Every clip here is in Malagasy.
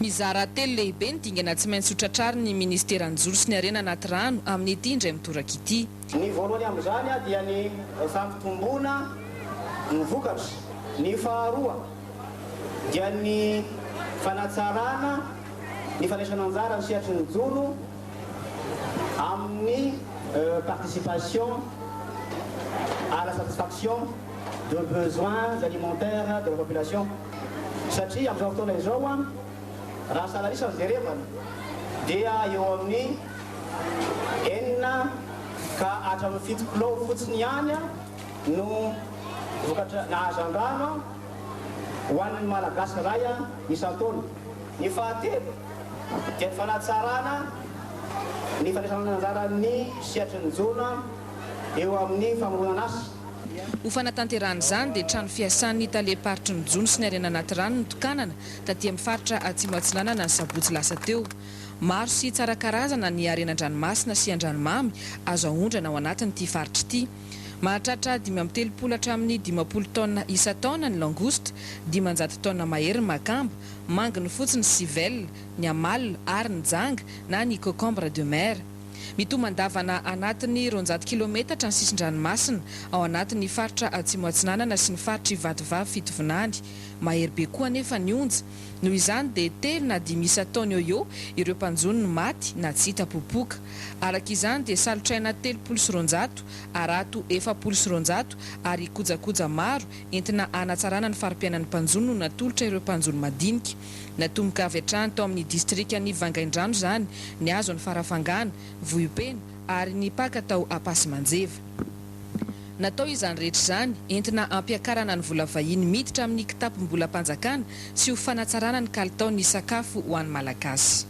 Mizara telo lehibe ny dingana tsy maintsy hotratrarin'ny Ministeran'ny Joro sy ny Harena Anaty Rano amin'ity indray mitoraka ity. Ny voalohany amin'izany dia ny fampitomboana ny vokatra, ny faharoa dia ny fanatsarana ny fandraisana anjara amin'ny sehatry ny joro amin'ny participation à la satisfaction. de besoins alimentaires de la population satria amin'izao fotoana izao raha salan'isa no jerevana dia eo amin'ny enina ka hatramin'ny fito kilao fotsiny ihany no vokatra na azo an-drano ho an'ny Malagasy iray isan-taona. Ny fahatelo dia ny fanatsarana ny fandraisana anjara ny sehatry ny jono eo amin'ny famoronana asa. Ho fanatanterahana izany dia trano fiasan'ny talem-paritry ny jono sy ny harena anaty rano notokanana taty amin'ny faritra Atsimo Atsinanana ny sabotsy lasa teo. Maro sy tsara karazana ny harena an-dranomasina sy an-dranomamy azo aondrana ao anatin'ity faritra ity. Mahatratra dimy amby telopolo hatramin'ny dimampolo taonina isan-taona ny langouste, dimanjato taonina mahery ny makamba, mangy ny fotsy ny civelle, ny amalo ary ny janga na ny cocombre de mer. Mitomandavana anatin'ny roanjato kilometatra ny sisin-dranomasina ao anatin'ny faritra Atsimo Atsinanana sy ny faritr'i Vatovavy Fitovinany. Mahery be koa anefa ny onja. Noho izany dia telo na dimy isa taona eo eo ireo mpanjono no maty na tsy hita popoka. Araka izany dia salotraina telopolo sy roanjato, harato efapolo sy roanjato ary kojakoja maro entina hanatsarana ny fari-piainan'ny mpanjono no natolotra ireo mpanjono madinika. Natomboka avy hatrany tao amin'ny distrikan'i Vangaindrano izany ny hazo any Farafangana, Vohipeno ary ny paka tao Ampasimanjeva. Natao izany rehetra izany entina hampiakarana ny vola vahiny miditra amin'ny kitapom-bolam-panjakana sy ho fanatsarana ny kalitaon'ny sakafo ho an'ny Malagasy.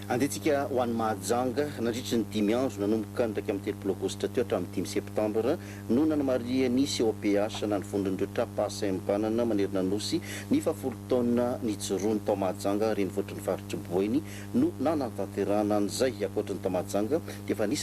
Andehantsika ho any Mahajanga nandritry ny dimy andro nanomboka ny iraika amby telopolo aogositra teo hatramin'ny dimy septambra. no nanamarihany COPH na ny Vondron'ireo Tra-pahasahembanana manerana Nosy ny fahafolo taona nijoroany tao Mahajanga renivohitr'ny Faritr'i Boeny no nanatanterahana an'izay, ankoatry ny tao Mahajanga dia efa nisy